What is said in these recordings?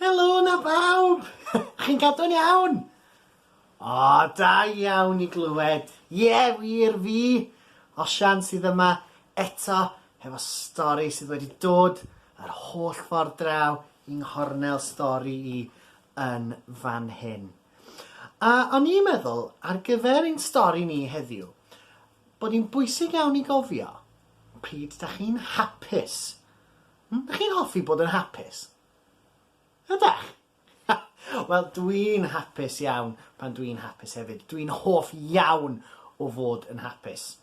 Helo na bawb! Chi'n cadw'n iawn? O, da iawn i glywed. Ie, yeah, wir fi, Osian sydd yma eto hefo stori sydd wedi dod yr holl ffordd draw i nghornel stori i yn fan hyn. A o'n i'n meddwl, ar gyfer ein stori ni heddiw, bod hi'n bwysig iawn i gofio pryd dach chi'n hapus. Hmm? Dach chi'n hoffi bod yn hapus? Ydach? Wel, dwi'n hapus iawn pan dwi'n hapus hefyd. Dwi'n hoff iawn o fod yn hapus.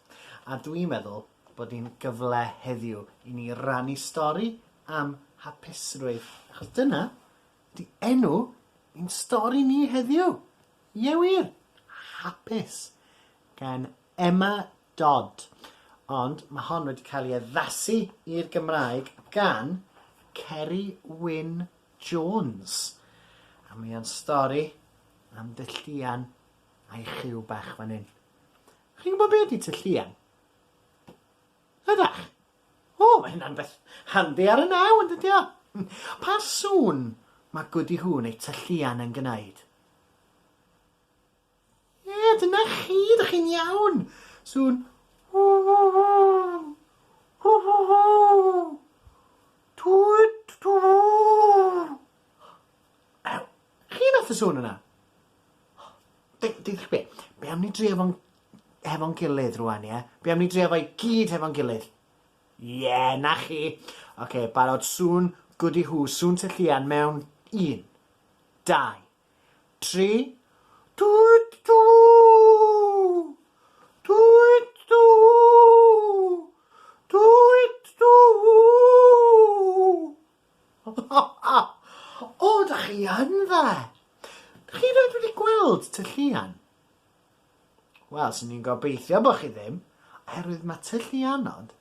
A dwi'n meddwl bod hi'n gyfle heddiw i ni rannu stori am hapusrwydd, achos dyna ydy enw i'n stori ni heddiw. Ie wir! Hapus! gan Emma Dodd. Ond mae hon wedi cael ei addasu i'r Gymraeg gan Ceri Wyn Jones. A mae o'n stori am dylluan a'i chyw bach fan hyn. Chi'n gwybod be ydy tylluan? Ydach? O, mae hynna'n beth handi ar y naw, yn dydy o? Pa sŵn mae Goody Hoo neu tylluan yn gwneud? Ie, dyna chi, dych chi'n iawn! Sŵn Chi wnaeth y sŵn yna? Deuwch be, be am ni drio fo'n hefo'n gilydd rwan ie? Be am ni drio fo i gyd hefo'n gilydd? Ie, 'na chi! Oce, barod, sŵn, gwdi hŵ, sŵn ty llian mewn un, dau, tri, Twt twww! Twt twww! Twt twww! O, 'dych chi yn dda! 'Dych chi rioed wedi gweld ty llian? Wel, swn i'n gobeithio bod chi ddim, oherwydd mae tylluanod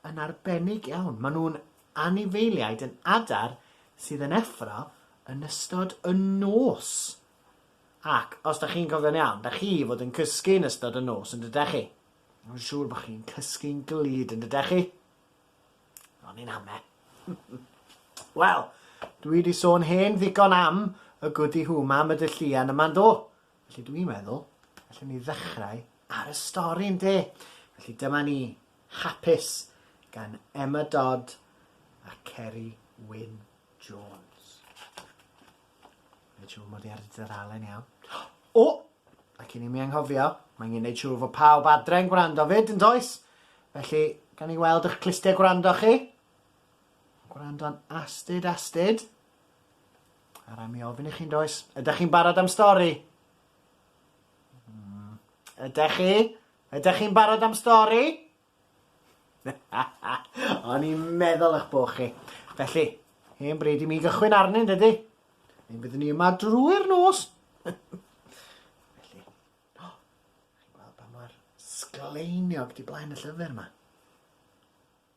yn arbennig iawn. Maen nhw'n anifeiliaid yn adar sydd yn effro yn ystod y nos. Ac, os da chi'n cofio'n iawn, da chi fod yn cysgu yn ystod y nos yn dydech chi. Mae'n siŵr bod chi'n cysgu'n glyd yn dydech chi. Ond ni'n hame. Wel, dwi wedi sôn hen ddigon am y gwdi hwma am y dylluan yma'n do. Felly dw i'n meddwl, allwn ni ddechrau ar y stori, ynde? Felly dyma ni, Hapus, gan Emma Dodd a Ceri Wyn Jones. Mae'n siŵr mod i ar y dudalen iawn. O! Ac i ni mi anghofio, mae angen gwneud siŵr fod pawb adre'n gwrando fyd, yn does? Felly, gan i weld eich clustiau gwrando chi. Gwrando'n astud, astud. A rai mi ofyn i chi'n does, ydych chi'n barod am stori? Mm. Ydych chi? Ydych chi'n barod am stori? O'n i'n meddwl eich bod chi. Felly, hen bryd i mi gychwyn arni, dydy? Ein byddwn ni yma drwy'r nos. Felly, oh, chi'n gweld pa mor sgleiniog di blaen y llyfr yma?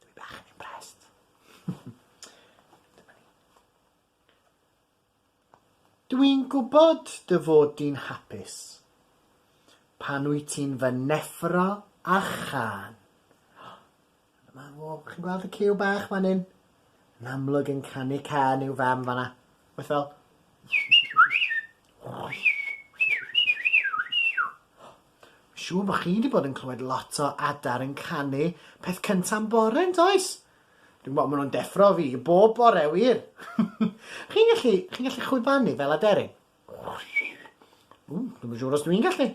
Dw i bach yn impressed. Dyma ni. Dw i'n gwybod dy fod di'n hapus pan wyt ti'n fy neffro a chân. Dyma fo, chi'n gweld y ciw bach fan hyn? Yn amlwg yn canu cân i'w fam fanna. Beth fel... Mae'n siŵr bod chi 'di bod yn clywed lot o adar yn canu peth cynta yn bore, yn does? Dwi'n gwybod, maen nhw'n deffro fi bob bore, wir! chi'n gallu, chi'n gallu chwibanu fel aderyn? Ww, dwi'n siŵr os dwi'n gallu.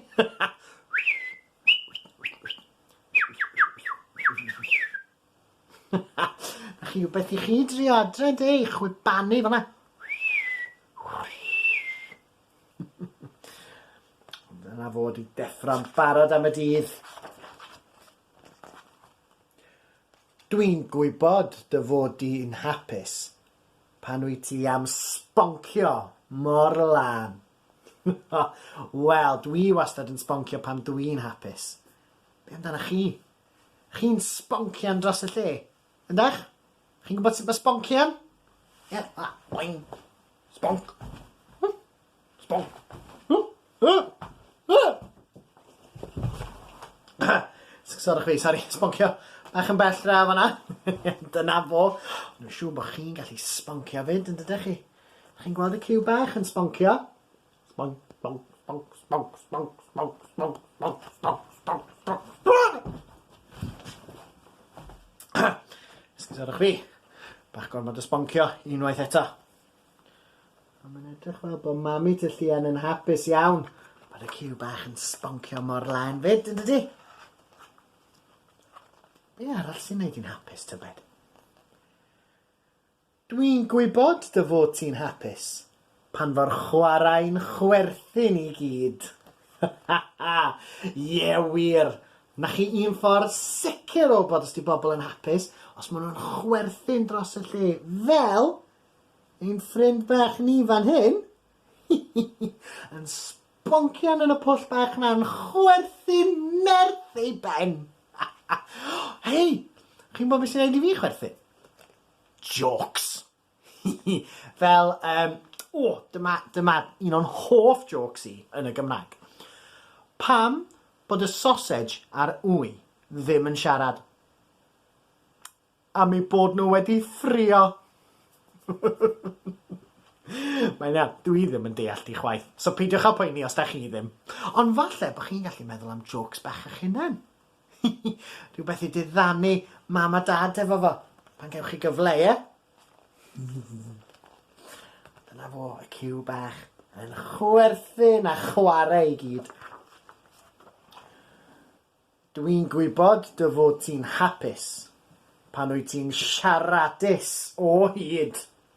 Na chi beth i chi drio adre, de, i chwibanu fel yna. Ddyla fo 'di deffro'n barod am y dydd. Dwi'n gwybod dy fod di'n hapus pan wyt ti am sboncio mor lân. Wel, dwi wastad yn sboncio pan dwi'n hapus. Be' amdanach chi? Chi'n sponcian dros y lle? Ydych? Chi'n gwybod sut mae sbonci yn? Ie, a, boing. Sbonc. Sbonc. Sorry chwi, sorry, sboncio. Bach yn bell draw fanna. Dyna fo. Dwi'n siŵr bod chi'n gallu sboncio fyd, yn dydych chi? Chi'n gweld y ciw bach yn sboncio? Sgwrsio 'da chwi. Bach gormod o sboncio unwaith eto. A mae'n edrych fel bod Mami Tŷ Llian yn hapus iawn bod y ciw bach yn sboncio mor lân 'fyd, yn dydi? Be arall sy'n neud hi'n hapus, tybed? Dwi'n gwybod dy fod ti'n hapus pan fo'r chwarae'n chwerthin i gyd! Ha ha ha! Ie wir! Na chi un ffordd sicr o wybod os 'di bobl yn hapus os ma' nhw'n chwerthin dros y lle, fel ein ffrind bach ni fan hyn! Hi hi hi! Yn sboncian yn y pwll bach 'na'n chwerthin nerth ei ben! Ha ha! Hei! Chi'n gwybod be sy'n neud i fi chwerthin? Jôcs! Hi hi! Fel yym, o, dyma, dyma un o'n hoff jôcs i yn y Gymraeg. Pam bod y sosej a'r ŵy ddim yn siarad? Am eu bod nhw wedi ffrio! Mae'n iawn, dw i ddim yn deall ti chwaith, so peidiwch â poeni os da chi ddim. Ond falle bod chi'n gallu meddwl am jôcs bach eich hunain. Hihi, rhywbeth i diddanu mam a dad efo fo, pan gewch chi gyfle, ie? Dyna fo, y ciw bach, yn chwerthin a chware i gyd. Dw i'n gwybod dy fod ti'n hapus pan wyt ti'n siaradus o hyd!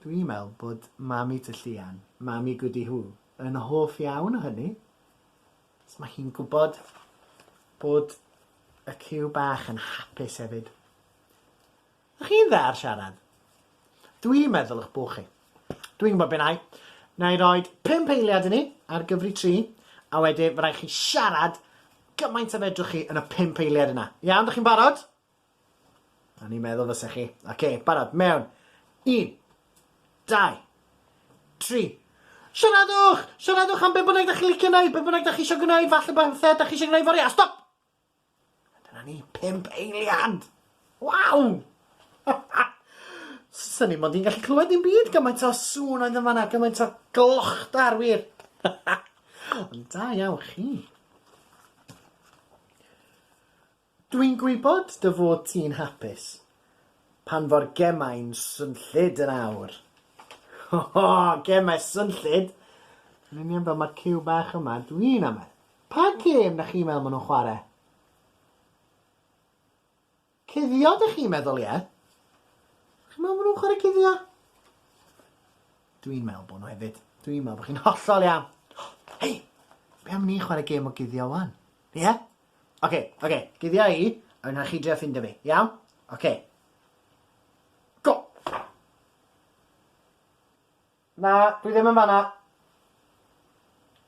Dwi'n meddwl bod Mami Ty Llian, Mami Goody Hoo, yn hoff iawn o hynny, achos mae hi'n gwybod bod y ciw bach yn hapus hefyd. Ych chi'n dda ar siarad? Dwi'n meddwl ych bod chi. Dwi'n gwybod beth nai. Nai roi pump eiliad i ni ar gyfri tri, a wedyn mae rhaid chi siarad gymaint a fedrwch chi yn y pump eiliad yna. Iawn, dych chi'n barod? O'n i'n meddwl fysa chi. Oce, barod, mewn. Un, dau, tri. Siaradwch! Siaradwch am be' bynnag da chi licio wneud, be' bynnag da chi eisiau gwneud, falle bod pethau da chi eisiau gwneud fory. A stop! A dyna ni, pimp eiliad! Waw! Sa ni mond i'n gallu clywed dim byd gymaint o sŵn oedd yn fanna, gymaint o glochtar wir. Ond da iawn chi. Dwi'n gwybod dy fod ti'n hapus pan fo'r gemau'n swnllyd yn awr! O! Gemau swnllyd! Yn union fel mae'r ciw bach yma, dwi'n amau. Pa gêm dach chi'n meddwl maen nhw'n chwarae? Cuddio dych chi'n meddwl, ie? Dych chi'n meddwl maen nhw'n chwarae cuddio? Dwi'n meddwl bod nhw hefyd. Dwi'n meddwl bod chi'n hollol iawn. Hei! Be am ni chwarae gêm o guddio wan? Ie? Oce, oce, guddia i, a wna i chi drio ffindio fi, iawn? Oce. Go! Na, dwi ddim yn fanna.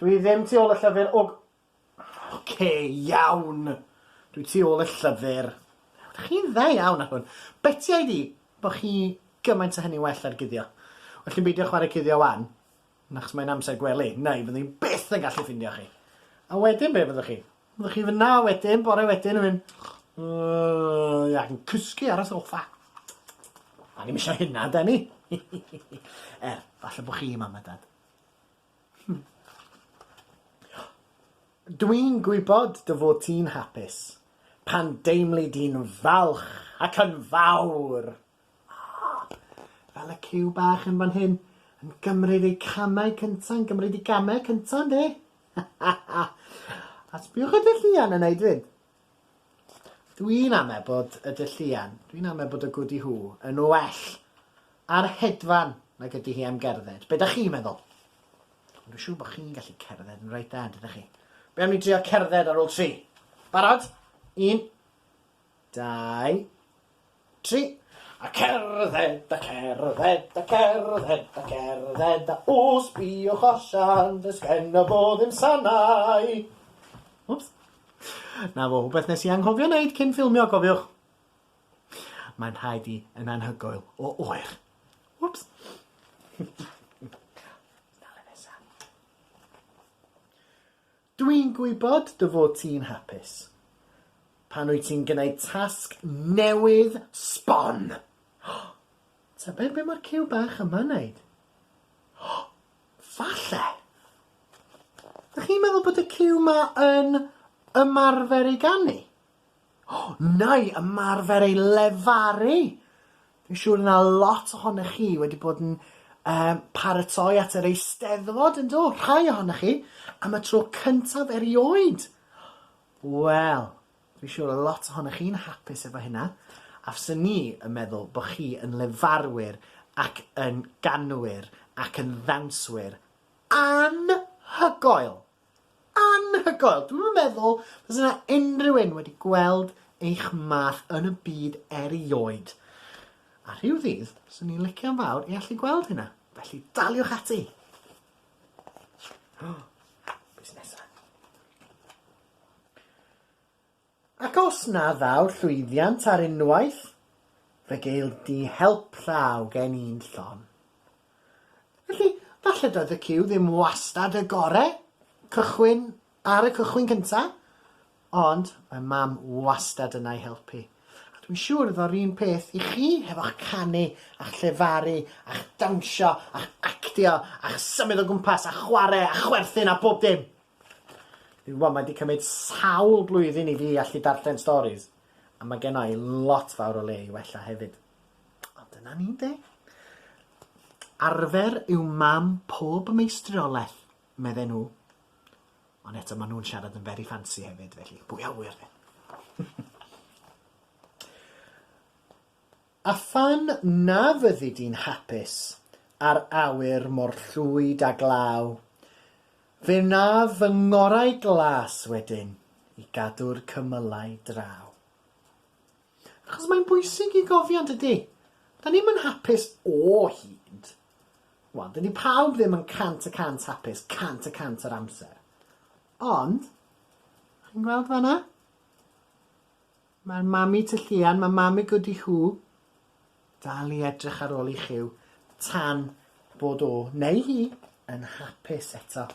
Dwi ddim tu ôl y llyfr o... Oce, iawn. Dwi tu ôl y llyfr. Chi'n dda iawn ar hwn. Betiau di bod chi gymaint o hynny well ar guddio. Well ni'n beidio chwarae cuddio wan. Achos mae'n amser gwely, neu fyddwn i byth yn gallu ffindio chi. A wedyn be fyddwch chi? Fyddwch chi fyna wedyn, bore wedyn yn mynd, Yyy, ac yn cysgu ar y soffa. A ni'm eisiau hynna, da ni? er, falle bod chi, mam a dad. Hmm. Dwi'n gwybod dy fod ti'n hapus pan deimli di'n falch ac yn fawr! Fel y cyw bach yn fan hyn, yn gymryd ei camau cynta, yn gymryd ei gamau cynta, yndi? A sbïwch ar Dylluan yn neud hyn. Dwi'n ame bod y Dylluan, dwi'n ame bod y Gwdi Hŵ yn well ar hedfan nag ydi hi am gerdded. Be' 'dach chi'n meddwl? Ond dwi siŵr bo' chi'n gallu cerdded yn reit dda, yn dydach chi? Be' am ni drio cerdded ar ôl tri? Barod? Un. Dau. tri. A cerdded, a cerdded, a cerdded, a cerdded, a o sbïwch allan, does genna fo ddim sanau. Wps. Na fo, rhywbeth nes i anghofio wneud cyn ffilmio, cofiwch. Mae'n rhaid i yn anhygoel o oer. Wps. Dale nesa. Dw i'n gwybod dy fod ti'n hapus pan wyt ti'n gwneud tasg newydd sbon! Tybed be mae'r ciw bach yma'n wneud? Falle! Dych chi'n meddwl bod y ciw 'ma yn ymarfer i ganu? neu ymarfer ei lefaru. Dwi'n siŵr na lot ohonoch chi wedi bod yn um, paratoi at yr eisteddfod yn do, rhai ohonoch chi, am y tro cyntaf erioed. Wel, dwi'n siŵr o lot ohonoch chi'n hapus efo hynna, a fyswn ni yn meddwl bod chi yn lefarwyr ac yn ganwyr ac yn ddawnswyr anhygoel. Anhygoel! Dwi'm yn meddwl fys yna unrhyw un wedi gweld eich math yn y byd erioed. A rhyw ddydd, swn i'n licio'n fawr i allu gweld hynna, felly daliwch ati! Be' sy nesa? Ac os na ddaw llwyddiant ar unwaith, fe geil di help llaw gen i'n llon. Felly, falle doedd y cyw ddim wastad y gore, cychwyn ar y cychwyn cynta, ond mae Mam wastad yna i helpu. A dwi'n siŵr iddo yr un peth i chi hefo'ch canu a'ch llefaru a'ch dawnsio a'ch actio a'ch symud o gwmpas a chware a chwerthin a bob dim! Dwi'n gwybod, mae wedi cymryd sawl blwyddyn i fi allu darllen storis, a mae gen i lot fawr o le i wella hefyd. Ond dyna ni, de. Arfer yw mam pob meistriolaeth, medden nhw. Ond eto, maen nhw'n siarad yn very fancy hefyd, felly, pwy a ŵyr, de? A phan na fyddi di'n hapus â'r awyr mor llwyd a glaw, fe wnaf fy ngorau glas wedyn i gadw'r cymylau draw. Achos mae'n bwysig i gofio, yn dydi? Da ni'm yn hapus o hyd. Wel, dydi pawb ddim yn cant y cant hapus cant y cant yr amser. Ond, chi'n gweld fanna? Mae'r mami ty llian, mae mami gydi hw. Dal i edrych ar ôl i Chyw tan bod o, neu hi, yn hapus eto.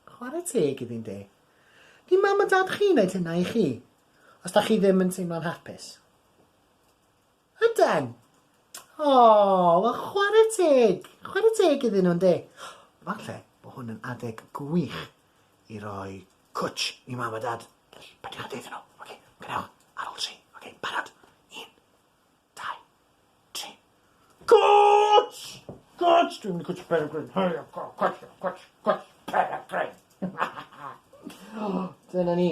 Chwarae teg iddi'n de. Di mam a dad chi wneud hynna i chi, os da chi ddim yn teimlo'n hapus. Yden. O, wel chware teg. Chware teg iddyn nhw, yndi? Falle bod hwn yn adeg gwych i roi cwtsh i mam a dad. Felly, peidiwch â deud nhw. Oce, gwnewch ar ôl tri. Oce, barod? Un, dau, tri. Cwtsh! Cwtsh! Dwi'n mynd i cwtsh Pere Gryn. Hurry up, go, cwtsh, cwtsh, cwtsh, Pere Gryn! Dyna ni.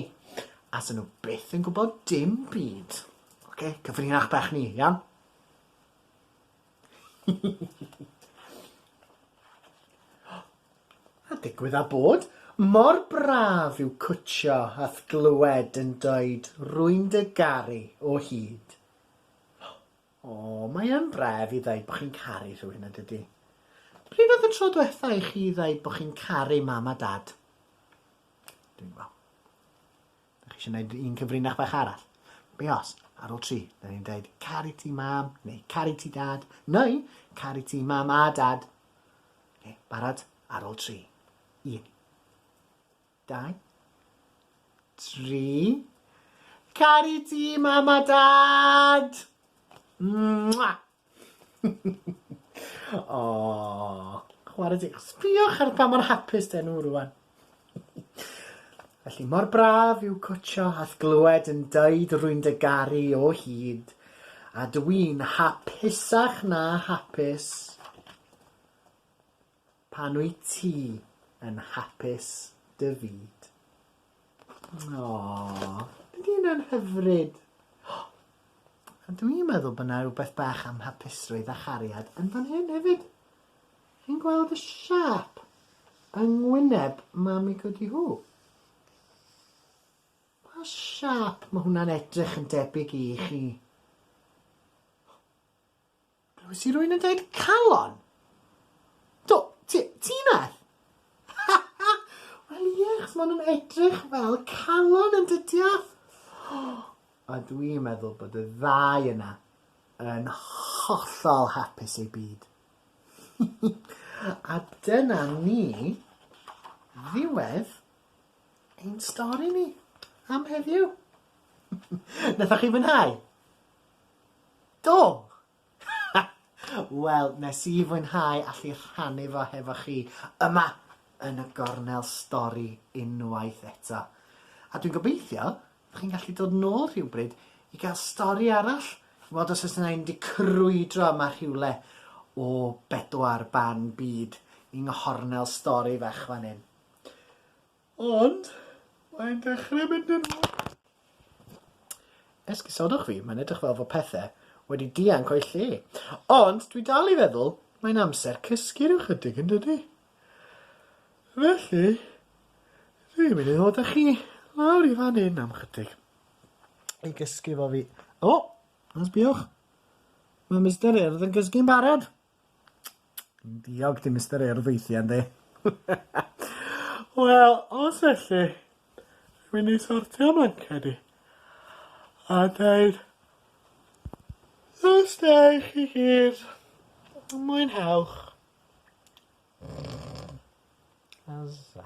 Asen nhw byth yn gwybod dim byd. Ok, cyfrinach bach ni, iawn? A digwydd a bod, mor braf yw cwtshio a'th glywed yn dweud rwy'n dy garu o hyd. O, mae yn bref i ddeud bo chi'n caru rhywun yn dydi? Pryd oedd y tro dwetha i chi ddeud bo chi'n caru mam a dad? Dwi'n gweld. Dach chi eisiau gwneud un cyfrinach bach arall? Be os, ar ôl tri, da ni'n dweud caru ti mam, neu caru ti dad, neu caru ti mam a dad. Okay, barod? Ar ôl tri. Un. Dau. Tri. Caru ti mam a dad! Mwah! Aww! Chwarae teg. Sbïwch ar pa mor hapus 'dyn nhw rwan. Felly, mor braf yw cwtsho a'th glywed yn deud rwy'n dy garu o hyd, a dw i'n hapusach na hapus. Pan wyt ti yn hapus dy fyd. Aww, ydy hynna'n hyfryd? A dw i'n meddwl bod 'na rywbeth bach am hapusrwydd a chariad yn fan hyn hefyd. Chi'n gweld y siâp yng ngwyneb Mami Goody Hoo? Pa siâp mae hwnna'n edrych yn debyg i chi? Glywes i rwy'n yn dweud calon? Do, ti, ti nath? Ha ha! Wel ie, chos maen nhw'n edrych fel calon yn dydiaf? A dwi'n meddwl bod y ddau yna yn hollol hapus eu byd. A dyna ni ddiwedd ein stori ni am heddiw. Nathoch chi fwynhau? Do! Wel, nes i fwynhau allu rhannu fo hefo chi yma yn y gornel stori unwaith eto. A dwi'n gobeithio bo' chi'n gallu dod nôl rhywbryd i gael stori arall, weld os o's 'na un 'di crwydro yma rhywle o bedwar ban byd i'n nghornel stori fach fan 'yn. Ond, mae'n dechrau mynd yn od. Esgusodwch fi, mae'n edrych fel fod pethe wedi dianc o'i lle. Ond, dwi dal i feddwl, mae'n amser cysgu rhyw chydig yn dydi? Felly, dwi'n mynd i ddod â chi lawr i fan hyn am chydig. I gysgu fo fi. O! Sbïwch! Mae Mister Urdd yn cysgu'n barod! Diog ti Mister Urdd weithia yndi? Wel os elli rwy'n i sortio manced i a deud os da chi gyd mwynhewch. Azza.